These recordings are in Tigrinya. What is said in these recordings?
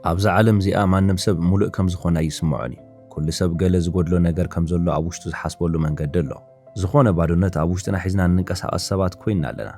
ኣብዛ ዓለም እዚኣ ማንም ሰብ ሙሉእ ከም ዝኾነ ኣይስመዖን እዩ። ኩሉ ሰብ ገለ ዝጎድሎ ነገር ከም ዘሎ ኣብ ውሽጡ ዝሓስበሉ መንገዲ ኣሎ። ዝኾነ ባዶነት ኣብ ውሽጥና ሒዝና እንንቀሳቐስ ሰባት ኮይንና ኣለና።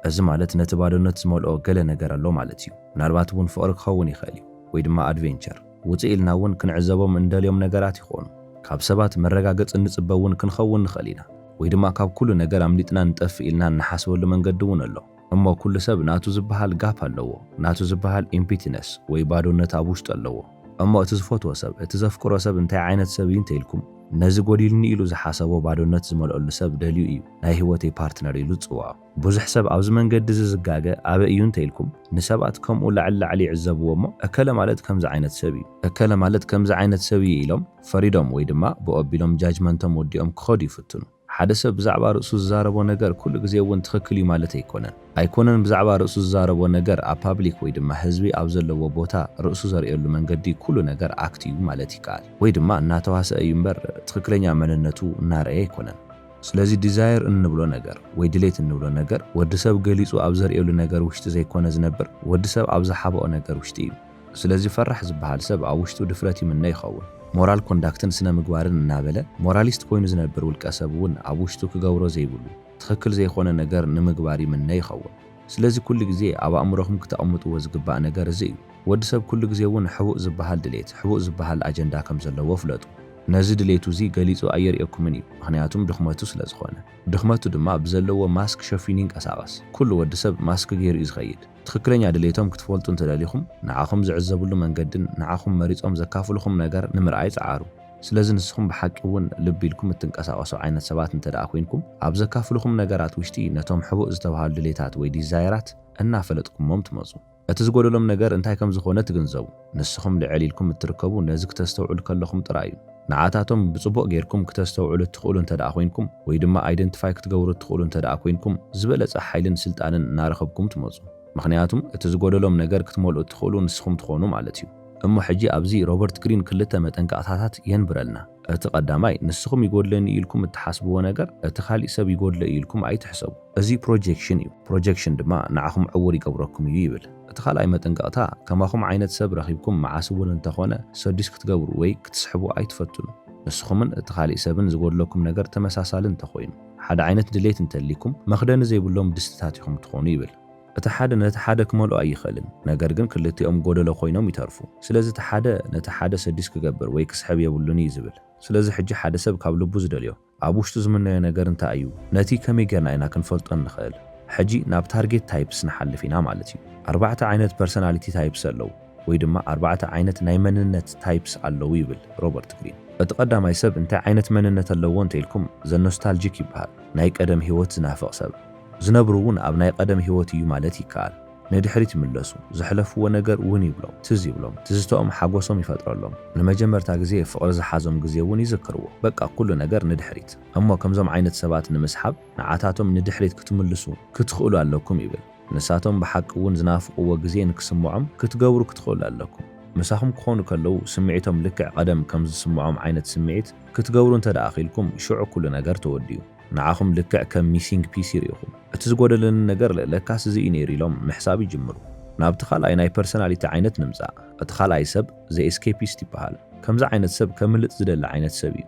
እዚ ማለት ነቲ ባዶነት ዝመልኦ ገለ ነገር ኣሎ ማለት እዩ። ምናልባት እውን ፍቕሪ ክኸውን ይኽእል እዩ። ወይ ድማ ኣድቬንቸር። ውፅእ ኢልና እውን ክንዕዘቦም እንደልዮም ነገራት ይኾኑ። ካብ ሰባት መረጋገፂ እንፅበ እውን ክንኸውን ንኽእል ኢና። ወይ ድማ ካብ ኩሉ ነገር ኣምሊጥና ንጠፍእ ኢልና እንሓስበሉ መንገዲ እውን ኣሎ። እሞ ኩሉ ሰብ ናቱ ዝበሃል ጋፕ ኣለዎ ናቱ ዝበሃል ኢምፒቲነስ ወይ ባዶነት ኣብ ውሽጡ ኣለዎ እሞ እቲ ዝፈትዎ ሰብ እቲ ዘፍቅሮ ሰብ እንታይ ዓይነት ሰብ እዩ እንተኢልኩም ነዚ ጎዲልኒ ኢሉ ዝሓሰቦ ባዶነት ዝመልኦሉ ሰብ ደልዩ እዩ ናይ ሂወተይ ፓርትነር ኢሉ ዝጽውዖ ብዙሕ ሰብ ኣብዚ መንገዲ እዚ ዝጋገ ኣበይ እዩ እንተኢልኩም ንሰባት ከምኡ ላዕሊ ላዕሊ ይዕዘብዎ እሞ እከለ ማለት ከምዚ ዓይነት ሰብ እዩ እከለ ማለት ከምዚ ዓይነት ሰብ እዩ ኢሎም ፈሪዶም ወይ ድማ ብኡ ኣቢሎም ጃጅመንቶም ወዲኦም ክኸዱ ይፍትኑ። ሓደ ሰብ ብዛዕባ ርእሱ ዝዛረቦ ነገር ኩሉ ግዜ እውን ትኽክል እዩ ማለት ኣይኮነን። ኣይኮነን ብዛዕባ ርእሱ ዝዛረቦ ነገር ኣብ ፓብሊክ ወይ ድማ ህዝቢ ኣብ ዘለዎ ቦታ ርእሱ ዘርእየሉ መንገዲ ኩሉ ነገር ኣክት እዩ ማለት ይከኣል። ወይ ድማ እናተዋሰኣ እዩ እምበር ትኽክለኛ መንነቱ እናርኣየ ኣይኮነን። ስለዚ ዲዛየር እንብሎ ነገር ወይ ድሌት እንብሎ ነገር ወዲ ሰብ ገሊፁ ኣብ ዘርእየሉ ነገር ውሽጢ ዘይኮነ ዝነብር ወዲ ሰብ ኣብ ዝሓበኦ ነገር ውሽጢ እዩ። ስለዚ ፈራሕ ዝበሃል ሰብ ኣብ ውሽጡ ድፍረት ይምነ ይኸውን። ሞራል ኮንዳክትን ስነ ምግባርን እናበለ ሞራሊስት ኮይኑ ዝነብር ውልቀ ሰብ እውን ኣብ ውሽጡ ክገብሮ ዘይብሉ ትኽክል ዘይኾነ ነገር ንምግባር ይምነ ይኸውን። ስለዚ ኩሉ ግዜ ኣብ ኣእምሮኹም ክተቕምጥዎ ዝግባእ ነገር እዚ እዩ። ወዲ ሰብ ኩሉ ግዜ እውን ሕቡእ ዝበሃል ድሌት፣ ሕቡእ ዝበሃል ኣጀንዳ ከም ዘለዎ ፍለጡ። ነዚ ድሌቱ እዚ ገሊጹ ኣየርእየኩምን እዩ፣ ምኽንያቱም ድኽመቱ ስለ ዝኾነ። ድኽመቱ ድማ ብዘለዎ ማስክ ሸፊኑ ይንቀሳቐስ። ኩሉ ወዲ ሰብ ማስክ ገይሩ እዩ ዝኸይድ። ትኽክለኛ ድሌቶም ክትፈልጡ እንተደሊኹም፣ ንዓኹም ዝዕዘብሉ መንገድን ንዓኹም መሪጾም ዘካፍሉኹም ነገር ንምርኣይ ጽዓሩ። ስለዚ ንስኹም ብሓቂ እውን ልብ ኢልኩም እትንቀሳቐሱ ዓይነት ሰባት እንተድኣ ኮይንኩም፣ ኣብ ዘካፍሉኹም ነገራት ውሽጢ ነቶም ሕቡእ ዝተብሃሉ ድሌታት ወይ ዲዛየራት እናፈለጥኩሞም ትመጹ። እቲ ዝጎደሎም ነገር እንታይ ከም ዝኾነ ትግንዘቡ። ንስኹም ልዕል ኢልኩም እትርከቡ ነዚ ክተስተውዕሉ ከለኹም ጥራይ እዩ። ንዓታቶም ብጽቡቕ ጌርኩም ክተስተውዕሉ እትኽእሉ እንተድኣ ኮይንኩም ወይ ድማ ኣይደንትፋይ ክትገብሩ እትኽእሉ እንተድኣ ኮይንኩም ዝበለጸ ሓይልን ስልጣንን እናረኸብኩም ትመጹ። ምኽንያቱም እቲ ዝጎደሎም ነገር ክትመልኡ እትኽእሉ ንስኹም ትኾኑ ማለት እዩ። እሞ ሕጂ ኣብዚ ሮበርት ግሪን ክልተ መጠንቀቕታታት የንብረልና። እቲ ቀዳማይ ንስኹም ይጎድለኒ እዩ ኢልኩም እትሓስብዎ ነገር እቲ ካሊእ ሰብ ይጎድሎ እዩ ኢልኩም ኣይትሕሰቡ። እዚ ፕሮጀክሽን እዩ። ፕሮጀክሽን ድማ ንዓኹም ዕዉር ይገብረኩም እዩ ይብል። እቲ ካልኣይ መጠንቀቕታ፣ ከማኹም ዓይነት ሰብ ረኺብኩም መዓስ እውን እንተኾነ ሰዱስ ክትገብሩ ወይ ክትስሕቡ ኣይትፈትኑ። ንስኹምን እቲ ካሊእ ሰብን ዝጎድለኩም ነገር ተመሳሳሊ እንተኾይኑ፣ ሓደ ዓይነት ድሌት እንተልይኩም፣ መኽደኒ ዘይብሎም ድስትታት ኢኹም ትኾኑ ይብል። እቲ ሓደ ነቲ ሓደ ክመልኦ ኣይኽእልን፣ ነገር ግን ክልቲኦም ጎደሎ ኮይኖም ይተርፉ። ስለዚ እቲ ሓደ ነቲ ሓደ ሰዱስ ክገብር ወይ ክስሕብ የብሉን እዩ ዝብል። ስለዚ ሕጂ ሓደ ሰብ ካብ ልቡ ዝደልዮ ኣብ ውሽጡ ዝምነዮ ነገር እንታይ እዩ? ነቲ ከመይ ጌርና ኢና ክንፈልጦ እንኽእል? ሕጂ ናብ ታርጌት ታይፕስ ንሓልፍ ኢና ማለት እዩ። ኣርባዕተ ዓይነት ፐርሰናሊቲ ታይፕስ ኣለዉ፣ ወይ ድማ ኣርባዕተ ዓይነት ናይ መንነት ታይፕስ ኣለዉ ይብል ሮበርት ግሪን። እቲ ቀዳማይ ሰብ እንታይ ዓይነት መንነት ኣለዎ እንተ ኢልኩም፣ ዘኖስታልጂክ ይበሃል፣ ናይ ቀደም ህይወት ዝናፍቕ ሰብ። ዝነብር'ውን ኣብ ናይ ቐደም ህይወት እዩ ማለት ይከኣል። ንድሕሪት ይምለሱ፣ ዘሕለፍዎ ነገር ውን ይብሎም፣ ትዝ ይብሎም፣ ትዝተኦም ሓጎሶም ይፈጥረሎም፣ ንመጀመርታ ግዜ ፍቕሪ ዝሓዞም ግዜ ውን ይዝክርዎ፣ በቃ ኩሉ ነገር ንድሕሪት። እሞ ከምዞም ዓይነት ሰባት ንምስሓብ ንዓታቶም ንድሕሪት ክትምልሱ ክትኽእሉ ኣለኩም ይብል። ንሳቶም ብሓቂ ውን ዝናፍቕዎ ግዜ ንክስምዖም ክትገብሩ ክትኽእሉ ኣለኩም። ምሳኹም ክኾኑ ከለዉ ስምዒቶም ልክዕ ቐደም ከምዝስምዖም ዓይነት ስምዒት ክትገብሩ እንተድኣ ኺኢልኩም ሽዑ ኩሉ ነገር ተወዲኡ። ንዓኹም ልክዕ ከም ሚሲንግ ፒሲ ርኢኹም እቲ ዝጎደለኒ ነገር ለካስ እዚ እዩ ነይሩ ኢሎም ምሕሳብ ይጅምሩ። ናብቲ ካልኣይ ናይ ፐርሰናሊቲ ዓይነት ንምጻእ። እቲ ካልኣይ ሰብ ዘ ኤስኬፒስት ይበሃል። ከምዚ ዓይነት ሰብ ከምልጥ ዝደሊ ዓይነት ሰብ እዩ።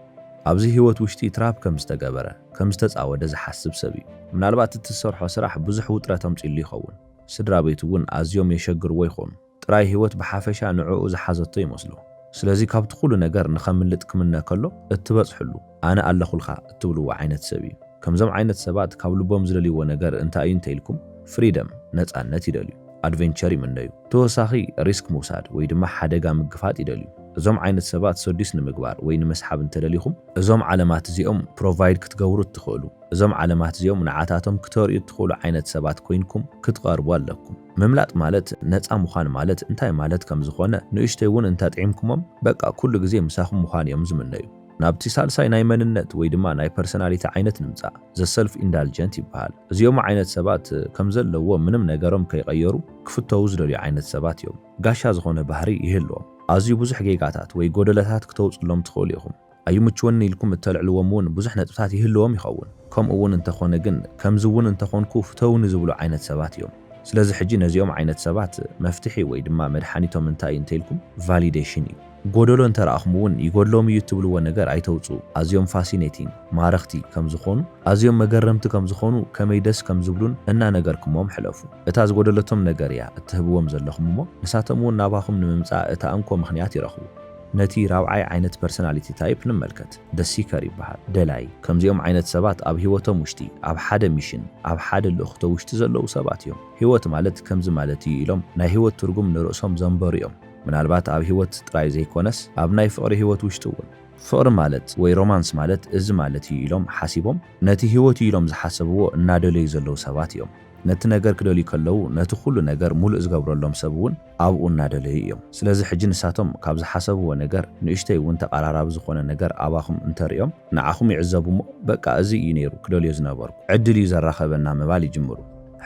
ኣብዚ ህይወት ውሽጢ ትራፕ ከም ዝተገበረ፣ ከም ዝተጻወደ ዝሓስብ ሰብ እዩ። ምናልባት እቲ ዝሰርሖ ስራሕ ብዙሕ ውጥረት ኣምጺኡሉ ይኸውን። ስድራቤቱ እውን ኣዝዮም የሸግርዎ ይኾኑ። ጥራይ ህይወት ብሓፈሻ ንዕኡ ዝሓዘቶ ይመስሎ። ስለዚ ካብቲ ኩሉ ነገር ንኸምልጥ ክምነ ከሎ እትበጽሕሉ፣ ኣነ ኣለኹልካ እትብልዎ ዓይነት ሰብ እዩ። ከምዞም ዓይነት ሰባት ካብ ልቦም ዝደልይዎ ነገር እንታይ እዩ እንተ ኢልኩም፣ ፍሪደም፣ ነጻነት፣ ይደልዩ። ኣድቨንቸር ይምነዩ። ብተወሳኺ ሪስክ ምውሳድ ወይ ድማ ሓደጋ ምግፋጥ ይደልዩ። እዞም ዓይነት ሰባት ሰዱስ ንምግባር ወይ ንምስሓብ እንተ ደሊኹም፣ እዞም ዓለማት እዚኦም ፕሮቫይድ ክትገብሩ እትኽእሉ፣ እዞም ዓለማት እዚኦም ንዓታቶም ክተርእዩ እትኽእሉ ዓይነት ሰባት ኮይንኩም ክትቐርቡ ኣለኩም። ምምላጥ ማለት ነጻ ምዃን ማለት እንታይ ማለት ከም ዝኾነ ንእሽተይ እውን እንተኣጥዒምኩሞም በቃ ኩሉ ግዜ ምሳኹም ምዃን እዮም ዝምነዩ። ናብቲ ሳልሳይ ናይ መንነት ወይ ድማ ናይ ፐርሰናሊቲ ዓይነት ንምጻእ። The Self Indulgent ይበሃል። እዚኦም ዓይነት ሰባት ከም ዘለዎ ምንም ነገሮም ከይቐየሩ ክፍተዉ ዝደልዩ ዓይነት ሰባት እዮም። ጋሻ ዝኾነ ባህሪ ይህልዎም። ኣዝዩ ብዙሕ ጌጋታት ወይ ጎደለታት ክተውጽሎም ትኽእሉ ኢኹም። ኣይምችወንን ኢልኩም እተልዕልዎም እውን ብዙሕ ነጥብታት ይህልዎም ይኸውን። ከምኡ እውን እንተ ኾነ ግን ከምዚ እውን እንተ ኾንኩ ፍተዉኒ ዝብሉ ዓይነት ሰባት እዮም። ስለዚ ሕጂ ነዚኦም ዓይነት ሰባት መፍትሒ ወይ ድማ መድሓኒቶም እንታይ እዩ እንተ ኢልኩም ቫሊደሽን እዩ። ጎደሎ እንተ ረኣኹም እውን ይጎድሎም እዩ እትብልዎ ነገር ኣይተውፅኡ። ኣዝዮም ፋሲኔቲንግ፣ ማረኽቲ፣ ከም ዝኾኑ፣ ኣዝዮም መገረምቲ ከም ዝኾኑ፣ ከመይ ደስ ከም ዝብሉን እናነገርክሞም ሕለፉ። እታ ዝጎደለቶም ነገር እያ እትህብዎም ዘለኹም እሞ ንሳቶም እውን ናባኹም ንምምፃእ እታ እንኮ ምኽንያት ይረኽቡ። ነቲ ራብዓይ ዓይነት ፐርሰናሊቲ ታይፕ ንመልከት። The Seeker ይበሃል፣ ደላይ። ከምዚኦም ዓይነት ሰባት ኣብ ህይወቶም ውሽጢ፣ ኣብ ሓደ ሚሽን፣ ኣብ ሓደ ልእኽቶ ውሽጢ ዘለዉ ሰባት እዮም። ህይወት ማለት ከምዚ ማለት እዩ ኢሎም ናይ ህይወት ትርጉም ንርእሶም ዘንበሩ እዮም። ምናልባት ኣብ ህይወት ጥራይ ዘይኮነስ ኣብ ናይ ፍቕሪ ህይወት ውሽጢ እውን። ፍቕሪ ማለት ወይ ሮማንስ ማለት እዚ ማለት እዩ ኢሎም ሓሲቦም ነቲ ህይወት እዩ ኢሎም ዝሓሰብዎ እናደለዩ ዘለዉ ሰባት እዮም። ነቲ ነገር ክደልዩ ከለዉ ነቲ ኩሉ ነገር ሙሉእ ዝገብረሎም ሰብ እውን። ኣብኡ እናደለዩ እዮም። ስለዚ ሕጂ ንሳቶም ካብ ዝሓሰብዎ ነገር ንእሽተይ እውን ተቓራራቢ ዝኾነ ነገር ኣባኹም እንተርእዮም ንዓኹም ይዕዘቡ እሞ በቃ እዙይ እዩ ነይሩ ክደልዮ ዝነበርኩ፣ ዕድል እዩ ዘራኸበና ምባል ይጅምሩ።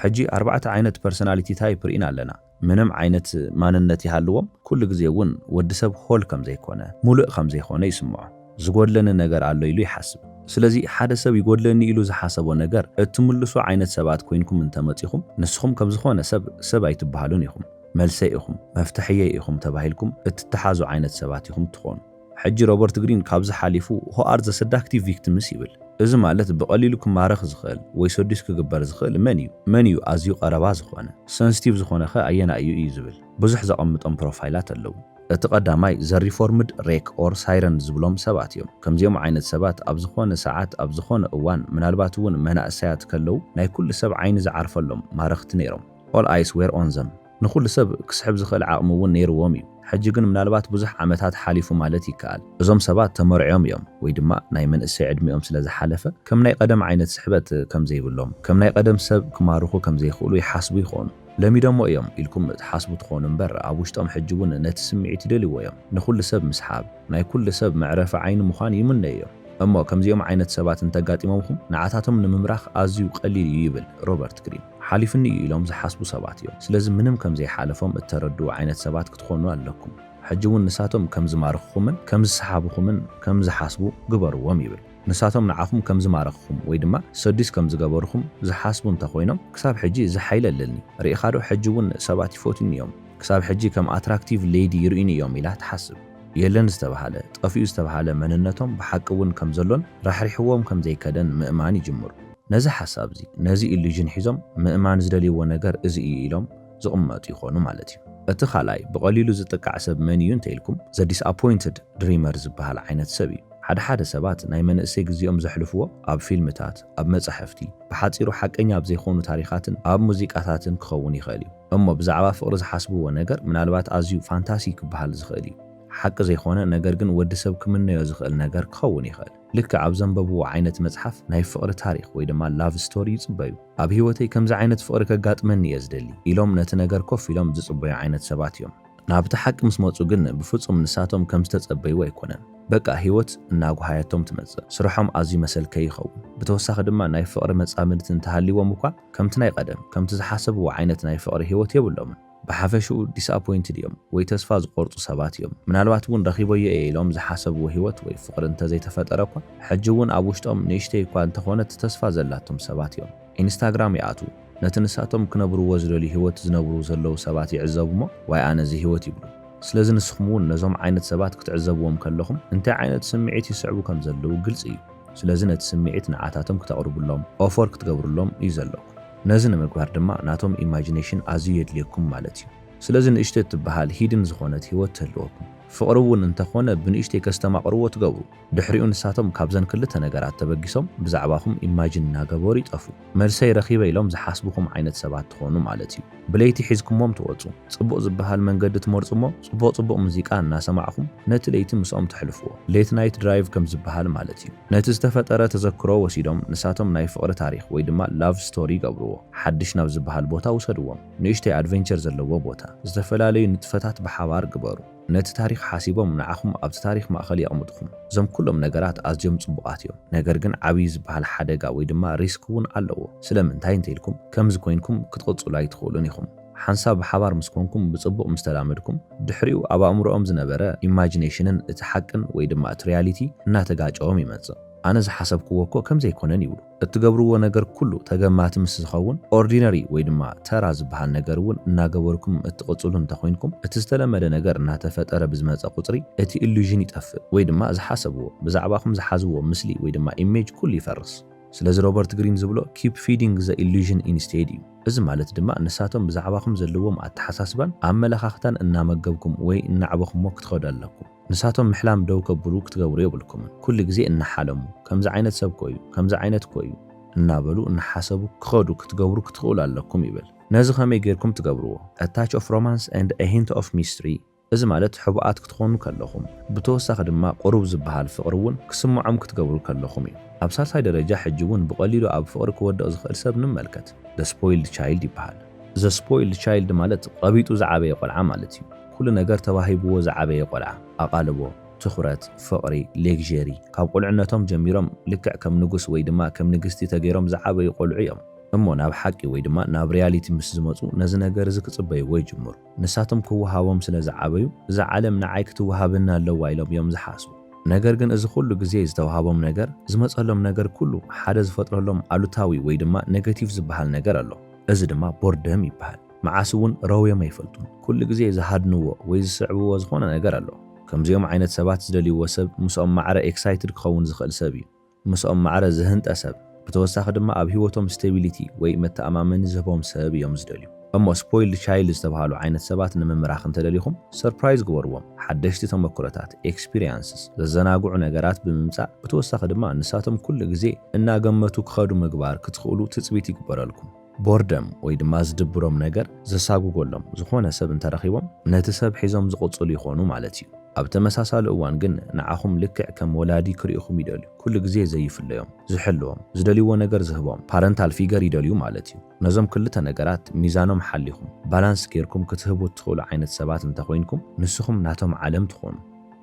ሕጂ ኣርባዕተ ዓይነት ፐርሰናሊቲ ታይፕ ርኢና ኣለና። ምንም ዓይነት ማንነት ይሃልዎም ኩሉ ግዜ እውን ወዲ ሰብ ሆል ከምዘይኮነ፣ ሙልእ ከምዘይኮነ ይስምዖ። ዝጎድለኒ ነገር ኣሎ ኢሉ ይሓስብ። ስለዚ ሓደ ሰብ ይጎድለኒ ኢሉ ዝሓሰቦ ነገር እትምልሱ ዓይነት ሰባት ኮይንኩም እንተመጺኹም ንስኹም ከም ዝኾነ ሰብ ሰብ ኣይትበሃሉን ኢኹም። መልሰይ ኢኹም፣ መፍትሐየይ ኢኹም ተባሂልኩም እትተሓዙ ዓይነት ሰባት ኢኹም እትኾኑ። ሕጂ ሮበርት ግሪን ካብዚ ሓሊፉ who are the seductive victims ይብል። እዚ ማለት ብቐሊሉ ክማረኽ ዝኽእል ወይ ሰዱስ ክግበር ዝኽእል መን እዩ? መን እዩ ኣዝዩ ቀረባ ዝኾነ? ሰንስቲቭ ዝኾነኸ ኣየናይ እዩ? እዩ ዝብል። ብዙሕ ዘቐምጦም ፕሮፋይላት ኣለዉ። እቲ ቀዳማይ ዘ ሪፎርምድ ሬክ ኦር ሳይረን ዝብሎም ሰባት እዮም። ከምዚኦም ዓይነት ሰባት ኣብ ዝኾነ ሰዓት ኣብ ዝኾነ እዋን ምናልባት እውን መናእሰያት ከለው ናይ ኩሉ ሰብ ዓይኒ ዝዓርፈሎም ማረኽቲ ነይሮም። ኦል ኣይስ ዌር ኦን ዘም። ንኹሉ ሰብ ክስሕብ ዝኽእል ዓቕሚ እውን ነይርዎም እዩ። ሕጂ ግን ምናልባት ብዙሕ ዓመታት ሓሊፉ ማለት ይከኣል። እዞም ሰባት ተመርዕዮም እዮም ወይ ድማ ናይ መንእሰይ ዕድሚኦም ስለ ዝሓለፈ ከም ናይ ቀደም ዓይነት ስሕበት ከም ዘይብሎም፣ ከም ናይ ቀደም ሰብ ክማርኹ ከም ዘይኽእሉ ይሓስቡ ይኾኑ። ለሚዶሞ እዮም ኢልኩም ትሓስቡ ትኾኑ እምበር ኣብ ውሽጦም ሕጂ እውን ነቲ ስምዒት ይደልይዎ እዮም። ንኹሉ ሰብ ምስሓብ፣ ናይ ኩሉ ሰብ መዕረፊ ዓይኒ ምዃን ይምነዩ እዮም። እሞ ከምዚኦም ዓይነት ሰባት እንተጋጢሞምኹም ንዓታቶም ንምምራኽ ኣዝዩ ቀሊል እዩ ይብል ሮበርት ግሪን። ሓሊፉኒ እዩ ኢሎም ዝሓስቡ ሰባት እዮም። ስለዚ ምንም ከም ዘይሓለፎም እተረድኡ ዓይነት ሰባት ክትኾኑ ኣለኩም። ሕጂ እውን ንሳቶም ከም ዝማርኽኹምን ከም ዝሰሓብኹምን ከም ዝሓስቡ ግበርዎም ይብል። ንሳቶም ንዓኹም ከም ዝማረኽኹም ወይ ድማ ሰዱስ ከም ዝገበሩኹም ዝሓስቡ እንተ ኾይኖም ክሳብ ሕጂ እዚ ሓይሊ ኣለኒ ርኢኻዶ ሕጂ እውን ሰባት ይፎትዩኒ እዮም ክሳብ ሕጂ ከም ኣትራክቲቭ ሌዲ ይርእዩኒ እዮም ኢላ ትሓስብ። የለን ዝተብሃለ፣ ጠፊኡ ዝተብሃለ መንነቶም ብሓቂ እውን ከም ዘሎን ራሕሪሕዎም ከም ዘይከደን ምእማን ይጅምሩ። ነዚ ሓሳብ እዚ፣ ነዚ ኢሉዥን ሒዞም ምእማን ዝደልይዎ ነገር እዚ እዩ ኢሎም፣ ዝቕመጡ ይኾኑ ማለት እዩ። እቲ ካልኣይ ብቐሊሉ ዝጥቃዕ ሰብ መን እዩ እንተኢልኩም፣ ዘ ዲስኣፖይንትድ ድሪመር ዝበሃል ዓይነት ሰብ እዩ። ሓደ ሓደ ሰባት ናይ መንእሰይ ግዜኦም ዘሕልፍዎ ኣብ ፊልምታት፣ ኣብ መጻሕፍቲ፣ ብሓጺሩ ሓቀኛ ኣብ ዘይኮኑ ታሪኻትን ኣብ ሙዚቃታትን ክኸውን ይኽእል እዩ። እሞ ብዛዕባ ፍቕሪ ዝሓስብዎ ነገር ምናልባት ኣዝዩ ፋንታሲ ክበሃል ዝኽእል እዩ። ሓቂ ዘይኮነ ነገር ግን ወዲ ሰብ ክምነዮ ዝኽእል ነገር ክኸውን ይኽእል። ልክዕ ኣብ ዘንበብዎ ዓይነት መጽሓፍ ናይ ፍቕሪ ታሪኽ ወይ ድማ ላቭ ስቶሪ ይጽበዩ። ኣብ ህይወተይ ከምዚ ዓይነት ፍቕሪ ከጋጥመኒ እየ ዝደሊ ኢሎም ነቲ ነገር ኮፍ ኢሎም ዝጽበዩ ዓይነት ሰባት እዮም። ናብቲ ሓቂ ምስ መጹ ግን ብፍጹም ንሳቶም ከም ዝተጸበይዎ ኣይኮነን። በቃ ህይወት እናጉሃየቶም ትመጽእ። ስርሖም ኣዝዩ መሰልከዪ ይኸውን። ብተወሳኺ ድማ ናይ ፍቕሪ መጻምድቲ እንተሃልይዎም እኳ ከምቲ ናይ ቀደም ከምቲ ዝሓሰብዎ ዓይነት ናይ ፍቕሪ ህይወት የብሎምን። ብሓፈሽኡ ዲስኣፖይንትድ እዮም ወይ ተስፋ ዝቖርጹ ሰባት እዮም። ምናልባት እውን ረኺበዮ እየ ኢሎም ዝሓሰብዎ ህይወት ወይ ፍቕሪ እንተዘይተፈጠረ እኳ፣ ሕጂ እውን ኣብ ውሽጦም ንእሽተይ እኳ እንተኾነት ተስፋ ዘላቶም ሰባት እዮም። ኢንስታግራም ይኣትዉ፣ ነቲ ንሳቶም ክነብርዎ ዝደልዩ ህይወት ዝነብሩ ዘለዉ ሰባት ይዕዘቡ እሞ ዋይ ኣነ እዚ ህይወት ይብሉ። ስለዚ ንስኹም እውን ነዞም ዓይነት ሰባት ክትዕዘብዎም ከለኹም እንታይ ዓይነት ስምዒት ይስዕቡ ከም ዘለዉ ግልጺ እዩ። ስለዚ ነቲ ስምዒት ንዓታቶም ክተቕርብሎም፣ ኦፎር ክትገብርሎም፣ እዩ ዘለኩም። ነዚ ንምግባር ድማ ናቶም ኢማጂነሽን ኣዝዩ የድልየኩም ማለት እዩ። ስለዚ ንእሽቶ እትበሃል ሂድን ዝኾነት ህይወት ትህልወኩም። ፍቕሪ እውን እንተኾነ ብንእሽተይ ከስተማቕርዎ ትገብሩ። ድሕሪኡ ንሳቶም ካብዘን ክልተ ነገራት ተበጊሶም ብዛዕባኹም ኢማጂን እናገበሩ ይጠፍኡ። መልሰይ ረኺበ ኢሎም ዝሓስቡኹም ዓይነት ሰባት ትኾኑ ማለት እዩ። ብለይቲ ሒዝኩሞም ትወፁ። ጽቡቕ ዝበሃል መንገዲ ትመርጹ'ሞ ጽቡቕ ጽቡቕ ሙዚቃ እናሰማዕኩም ነቲ ለይቲ ምስኦም ተሕልፍዎ። Late Night Drive ከም ዝበሃል ማለት እዩ። ነቲ ዝተፈጠረ ተዘክሮ ወሲዶም ንሳቶም ናይ ፍቕሪ ታሪኽ ወይ ድማ Love Story ይገብርዎ። ሓድሽ ናብ ዝበሃል ቦታ ውሰድዎም። ንእሽተይ ኣድቨንቸር ዘለዎ ቦታ። ዝተፈላለዩ ንጥፈታት ብሓባር ግበሩ። ነቲ ታሪኽ ሓሲቦም ንዓኹም ኣብቲ ታሪኽ ማእከል የቕምጡኹም። እዞም ኩሎም ነገራት ኣዝዮም ጽቡቓት እዮም። ነገር ግን ዓብዪ ዝበሃል ሓደጋ ወይ ድማ ሪስክ እውን ኣለዎ። ስለምንታይ እንተኢልኩም ከምዚ ኮይንኩም ክትቕጽሉ ኣይትኽእሉን ኢኹም። ሓንሳብ ሓባር ምስ ኮንኩም ብጽቡቕ ምስ ተላመድኩም ድሕሪኡ ኣብ ኣእምሮኦም ዝነበረ ኢማጂነሽንን እቲ ሓቅን ወይ ድማ እቲ ሪያሊቲ እናተጋጨዎም ይመጽእ። ኣነ ዝሓሰብክዎ እኮ ከምዚ ኣይኮነን ይብሉ። እትገብርዎ ነገር ኩሉ ተገማቲ ምስ ዝኸውን ኦርዲነሪ ወይ ድማ ተራ ዝበሃል ነገር እውን እናገበርኩም እትቕጽሉ እንተኾይንኩም እቲ ዝተለመደ ነገር እናተፈጠረ ብዝመጸ ቁጽሪ እቲ ኢሉዥን ይጠፍእ ወይ ድማ ዝሓሰብዎ ብዛዕባኹም ዝሓዝዎ ምስሊ ወይ ድማ ኢሜጅ ኩሉ ይፈርስ። ስለዚ ሮበርት ግሪን ዝብሎ ኪፕ ፊዲንግ ዘ ኢሉዥን ኢንስቴድ እዩ። እዚ ማለት ድማ ንሳቶም ብዛዕባኹም ዘለዎም ኣተሓሳስባን ኣመለኻኽታን እናመገብኩም ወይ እናዕበኹሞ ክትኸዱ ኣለኩም። ንሳቶም ምሕላም ደው ከብሉ ክትገብሩ የብልኩምን። ኩሉ ግዜ እናሓለሙ፣ ከምዚ ዓይነት ሰብ እኮ እዩ፣ ከምዚ ዓይነት እኮ እዩ፣ እናበሉ እናሓሰቡ ክኸዱ ክትገብሩ ክትኽእሉ ኣለኩም ይብል። ነዚ ከመይ ጌርኩም ትገብርዎ? A Touch of Romance and a Hint of Mystery፣ እዚ ማለት ሕቡኣት ክትኾኑ ከለኹም፣ ብተወሳኺ ድማ ቁሩብ ዝበሃል ፍቕሪ እውን ክስምዖም ክትገብሩ ከለኹም እዩ። ኣብ ሳልሳይ ደረጃ ሕጂ እውን ብቐሊሉ ኣብ ፍቕሪ ክወድቕ ዝኽእል ሰብ ንመልከት። The Spoiled Child ይበሃል። The Spoiled Child ማለት ቐቢጡ ዝዓበየ ቆልዓ ማለት እዩ። ኩሉ ነገር ተዋሂብዎ ዝዓበየ ቆልዓ፣ ኣቓልቦ፣ ትኹረት፣ ፍቕሪ፣ ሌግዠሪ፣ ካብ ቁልዕነቶም ጀሚሮም ልክዕ ከም ንጉስ ወይ ድማ ከም ንግስቲ ተገይሮም ዝዓበዩ ቆልዑ እዮም። እሞ ናብ ሓቂ ወይ ድማ ናብ ሪያሊቲ ምስ ዝመጹ ነዚ ነገር እዚ ክጽበይዎ ይጅምሩ። ንሳቶም ክወሃቦም ስለ ዝዓበዩ፣ እዛ ዓለም ንዓይ ክትወሃበኒ ኣለዋ ኢሎም እዮም ዝሓስቡ። ነገር ግን እዚ ኩሉ ግዜ ዝተወሃቦም ነገር፣ ዝመጸሎም ነገር ኩሉ ሓደ ዝፈጥረሎም ኣሉታዊ ወይ ድማ ነገቲቭ ዝበሃል ነገር ኣሎ። እዚ ድማ ቦርደም ይበሃል። መዓስ እውን ረውዮም ኣይፈልጡን። ኩሉ ግዜ ዝሃድንዎ ወይ ዝስዕብዎ ዝኾነ ነገር ኣሎ። ከምዚኦም ዓይነት ሰባት ዝደልይዎ ሰብ ምስኦም ማዕረ ኤክሳይትድ ክኸውን ዝኽእል ሰብ እዩ። ምስኦም ማዕረ ዝህንጠ ሰብ ብተወሳኺ ድማ ኣብ ሂወቶም ስቴቢሊቲ ወይ መተኣማመኒ ዝህቦም ሰብ እዮም ዝደልዩ እሞ ስፖይልድ ቻይልድ ዝተብሃሉ ዓይነት ሰባት ንምምራኽ እንተደሊኹም ሰርፕራይዝ ግበርዎም ሓደሽቲ ተመክሮታት ኤክስፒርያንስስ ዘዘናግዑ ነገራት ብምምጻእ ብተወሳኺ ድማ ንሳቶም ኩሉ ግዜ እናገመቱ ክኸዱ ምግባር ክትኽእሉ ትጽቢት ይግበረልኩም ቦርደም ወይ ድማ ዝድብሮም ነገር ዘሳጉጎሎም ዝኾነ ሰብ እንተረኺቦም ነቲ ሰብ ሒዞም ዝቕጽሉ ይኾኑ ማለት እዩ። ኣብ ተመሳሳሊ እዋን ግን ንዓኹም ልክዕ ከም ወላዲ ክሪኡኹም ይደልዩ። ኩሉ ግዜ ዘይፍለዮም፣ ዝሕልዎም፣ ዝደልይዎ ነገር ዝህቦም፣ ፓረንታል ፊገር ይደልዩ ማለት እዩ። ነዞም ክልተ ነገራት ሚዛኖም ሓሊኹም፣ ባላንስ ጌርኩም ክትህቡ እትኽእሉ ዓይነት ሰባት እንተኾይንኩም ንስኹም ናቶም ዓለም ትኾኑ።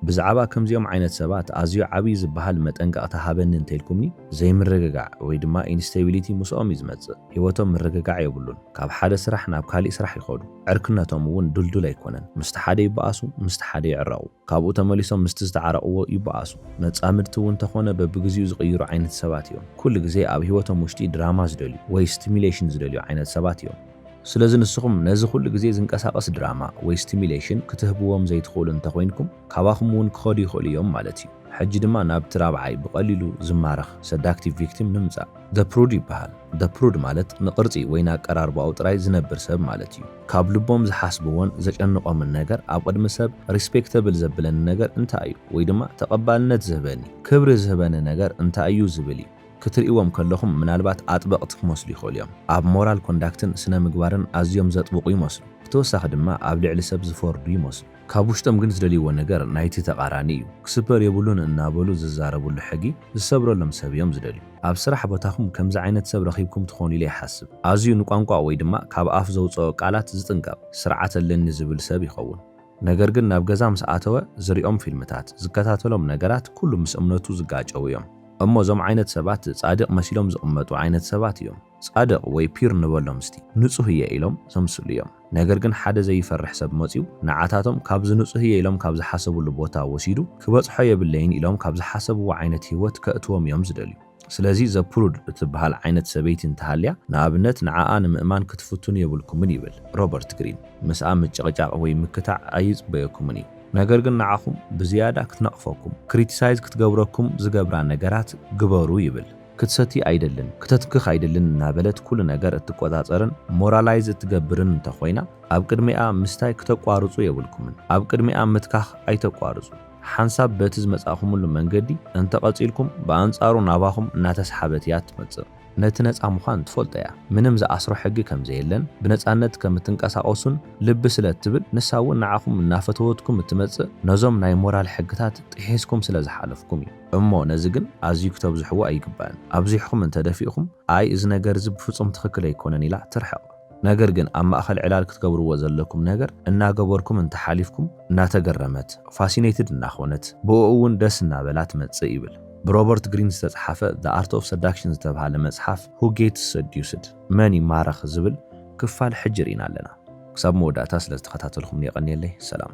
ብዛዕባ ከምዚኦም ዓይነት ሰባት ኣዝዩ ዓብዪ ዝበሃል መጠንቀቕታ ሃበኒ እንተኢልኩምኒ፣ ዘይምርግጋዕ ወይ ድማ ኢንስተቢሊቲ ምስኦም እዩ ዝመጽእ። ህይወቶም ምርግጋዕ የብሉን። ካብ ሓደ ስራሕ ናብ ካሊእ ስራሕ ይኸዱ። ዕርክነቶም እውን ድልዱል ኣይኮነን። ምስቲ ሓደ ይበኣሱ፣ ምስቲ ሓደ ይዕረቑ። ካብኡ ተመሊሶም ምስቲ ዝተዓረቕዎ ይበኣሱ። መጻምድቲ እውን እንተኾነ በብግዚኡ ዝቕይሩ ዓይነት ሰባት እዮም። ኩሉ ግዜ ኣብ ህይወቶም ውሽጢ ድራማ ዝደልዩ ወይ ስቲሙሌሽን ዝደልዩ ዓይነት ሰባት እዮም። ስለዚ ንስኹም ነዚ ኩሉ ግዜ ዝንቀሳቐስ ድራማ ወይ ስቲሚሌሽን ክትህብዎም ዘይትኽእሉ እንተ ኮይንኩም ካባኹም እውን ክኸዱ ይኽእሉ እዮም ማለት እዩ። ሕጂ ድማ ናብቲ ራብዓይ ብቐሊሉ ዝማረኽ፣ ሰዳክቲቭ ቪክቲም፣ ንምጻእ። The Prude ይበሃል። The Prude ማለት ንቕርጺ ወይ ንኣቀራርባኡ ጥራይ ዝነብር ሰብ ማለት እዩ። ካብ ልቦም ዝሓስብዎን ዘጨንቖምን ነገር ኣብ ቕድሚ ሰብ ሪስፔክተብል ዘብለኒ ነገር እንታይ እዩ ወይ ድማ ተቐባልነት ዝህበኒ፣ ክብሪ ዝህበኒ ነገር እንታይ እዩ ዝብል እዩ። ክትርእይዎም ከለኹም ምናልባት ኣጥበቕቲ ክመስሉ ይኽእሉ እዮም። ኣብ ሞራል ኮንዳክትን ስነ ምግባርን ኣዝዮም ዘጥብቑ ይመስሉ። ብተወሳኺ ድማ ኣብ ልዕሊ ሰብ ዝፈርዱ ይመስሉ። ካብ ውሽጦም ግን ዝደልይዎ ነገር ናይቲ ተቓራኒ እዩ። ክስበር የብሉን እናበሉ ዝዛረብሉ ሕጊ ዝሰብረሎም ሰብ እዮም ዝደልዩ። ኣብ ስራሕ ቦታኹም ከምዚ ዓይነት ሰብ ረኺብኩም ትኾኑ ኢለ ይሓስብ። ኣዝዩ ንቋንቋ ወይ ድማ ካብ ኣፍ ዘውጸኦ ቃላት ዝጥንቀቕ፣ ስርዓት ኣለኒ ዝብል ሰብ ይኸውን። ነገር ግን ናብ ገዛ ምስ ኣተወ ዝሪኦም ፊልምታት፣ ዝከታተሎም ነገራት ኩሉ ምስ እምነቱ ዝጋጨዉ እዮም። እሞ እዞም ዓይነት ሰባት ጻድቅ መሲሎም ዝቅመጡ ዓይነት ሰባት እዮም። ጻድቅ ወይ ፒር ንበሎም እስቲ፣ ንጹህ እየ ኢሎም ዘምስሉ እዮም። ነገር ግን ሓደ ዘይፈርሕ ሰብ መጽዩ ንዓታቶም ካብዚ ንጹህ እየ ኢሎም ካብ ዝሓሰብሉ ቦታ ወሲዱ ክበጽሖ የብለይን ኢሎም ካብ ዝሓሰብዎ ዓይነት ሂወት ከእትዎም እዮም ዝደልዩ። ስለዚ ዘፕሩድ እትበሃል ዓይነት ሰበይቲ እንተሃልያ፣ ንኣብነት ንዓኣ ንምእማን ክትፍትኑ የብልኩምን ይብል ሮበርት ግሪን። ምስኣ ምጭቕጫቕ ወይ ምክታዕ ኣይጽበየኩምን እዩ። ነገር ግን ንዓኹም ብዝያዳ ክትነቕፈኩም፣ ክሪቲሳይዝ ክትገብረኩም ዝገብራ ነገራት ግበሩ ይብል። ክትሰቲ ኣይደልን፣ ክተትንክኽ ኣይደልን እናበለት ኩሉ ነገር እትቆጻጸርን ሞራላይዝ እትገብርን እንተኾይና፣ ኣብ ቅድሚኣ ምስታይ ክተቋርጹ የብልኩምን። ኣብ ቅድሚኣ ምትካኽ ኣይተቋርጹ። ሓንሳብ በቲ ዝመጻእኹምሉ መንገዲ እንተ ቐጺልኩም፣ ብኣንጻሩ ናባኹም እናተስሓበት እያ እትመጽእ። ነቲ ነጻ ምዃን ትፈልጦ እያ፣ ምንም ዝኣስሮ ሕጊ ከም ዘየለን ብነጻነት ከም እትንቀሳቐሱን ልቢ ስለ እትብል፣ ንሳ እውን ንዓኹም እናፈተወትኩም እትመጽእ ነዞም ናይ ሞራል ሕግታት ጥሒስኩም ስለ ዝሓለፍኩም እዩ። እሞ ነዚ ግን ኣዝዩ ክተብዝሕዎ ኣይግባእን። ኣብዚሕኹም እንተ ደፊእኹም፣ ኣይ እዚ ነገር እዚ ብፍጹም ትኽክል ኣይኮነን ኢላ ትርሕቕ። ነገር ግን ኣብ ማእኸል ዕላል ክትገብርዎ ዘለኩም ነገር እናገበርኩም እንተሓሊፍኩም እናተገረመት፣ ፋሲነይትድ እናኾነት፣ ብእኡ እውን ደስ እናበላ ትመጽእ ይብል። ብሮበርት ግሪን ዝተጽሓፈ The Art of Seduction ዝተብሃለ መጽሓፍ Who Gets Seduced? መን ይማረኽ? ዝብል ክፋል ሕጂ ርኢና ኣለና። ክሳብ መወዳእታ ስለዝተኸታተልኩምኒ የቐንየለይ። ሰላም።